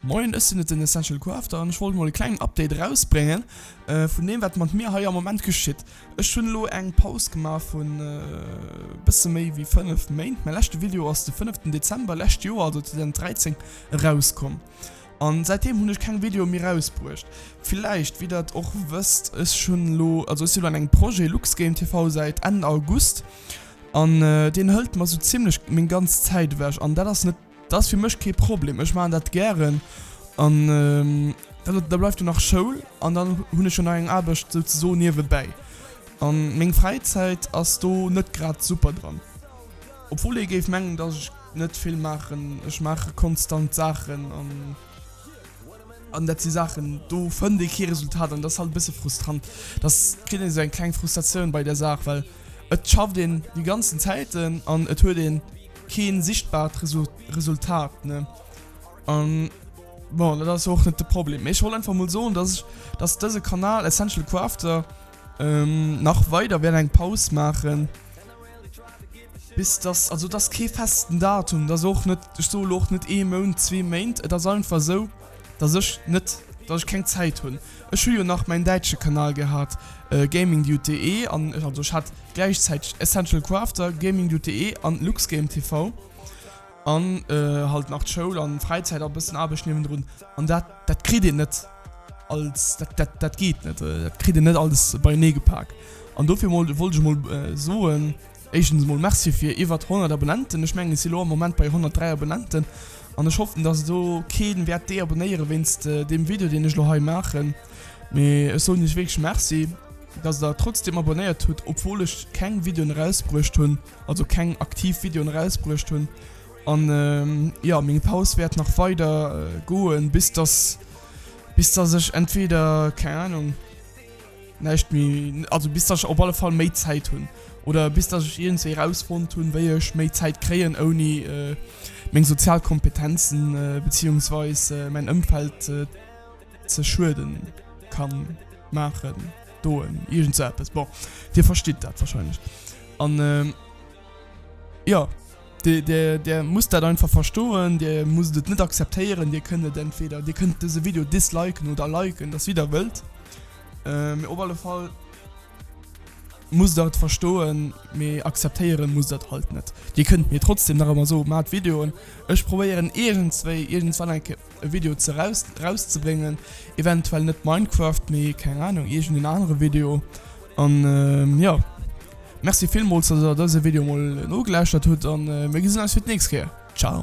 Moien, ech sinn et den Essential Crafter an ech wollt mol e klengen Update erausbréngen vun deem wat mat mir hei am Moment geschitt. Ech hunn elo eng Paus gemaach vun bësse méi wéi 5 Méint. Mäi leschte Video ass de 5 ten Dezember lescht Joer, also 2013 erauskomm an säitdeem hunn ech keng Videoe méi erausbruecht. Villäicht wéi der et och wësst, ech hunn elo, also ech si lo an engem Projet LuxGameTV säit Enn August an deen hëlt mer sou zimmlech meng ganz Zäit ewech an dat ass net Dass fir mech kee Problem ech maan dat gären an da bleift jo nach Schoul an dann hun ech jo nach eng Aarbecht sou ze soen niewebäi an meng Fräizäit ass do net grad super dran obwuel ee géif mengen dass ech net vill maachen ech maache konstant Saachen an an dat si Saachen do fënnt ee kee Resultat an dass halt e bësse frustrant dass kritt een sou eng kleng Frustratioun bei der Saach well et schafft een déi ganzen Zäiten an et huet een keen sichtbart Resultat ne an bon, dat ass och net de Problem. Ech wollt einfach mol soen, dass ech dass dëse Kanal Essential Crafter ähm, nach weider wären eng Paus maachen. Bis das also das kee festen Datum, das och net ech soe lo och net ee Mount, zwee Méint, et ass einfach esou. dass ech net dass ech keng Zäit hunn. Ech hu jo nach mäin däitsche Kanal gehat, GamingDude.de, an also ech hat gläichzäiteg Essential Crafter, GamingDude.de an LuxGameTV an halt nach d'Schoul an Fräizäit a bëssen Aarbecht niewendrun an dat dat kritt een net als dat dat dat geet net. Dat kritt een net alles beienee gepak an dofir wollt ech mol soen, Éischtens emol Merci fir iwwert 100 Abonnenten. Ech mengen ech si lo am Moment bei 103 Abonnenten an ech hoffen dass elo keen wäert deabonnéieren wéinst deem Video deen ech elo hei maachen. Mee ech soen iech wierklech Merci dass der trotzdem abonnéiert hutt obwuel ech keng Videoen erausbruecht hunn, also keng aktiv Videoen erausbruecht hunn. An jo meng Paus wäert nach weider goen bis dass bis dass ech entweder keng Ahnung. Näischt méi, also bis datt ech op alle Fall méi Zäit hunn, oder bis datt ech iergendwéi erausfonnt hunn, wéi ech méi Zäit kréien, ouni meng sozial Kompetenzen beziehungsweis mäin Ëmfeld ze schueden, kann maachen, doen, iergend sou eppes. Bon, Dir verstitt dat wahrscheinlech. An. Jo, Dir musst dat einfach verstoen, Dir musst et net akzeptéieren, Dir kënnt et entweder, Dir kënnt dëse Video disliken oder liken, dat ass wéi der wëllt. Mee op alle Fall musst der et verstoen, mee akzeptéieren musst der et halt net. Dir kënnt mir trotzdem nach ëmmer soen, Maacht Videoen, ech probéieren iergendswéi, iergendswann eng Kéier. e Video ze raus rauszebréngen, eventuell net Minecraft, mee keng Ahnung iergend een anere Video an jo Merci villmools dass der dëse Video mol nogelauschtert hutt an mir gesinn eis fir d'nächst Kéier. Ciao.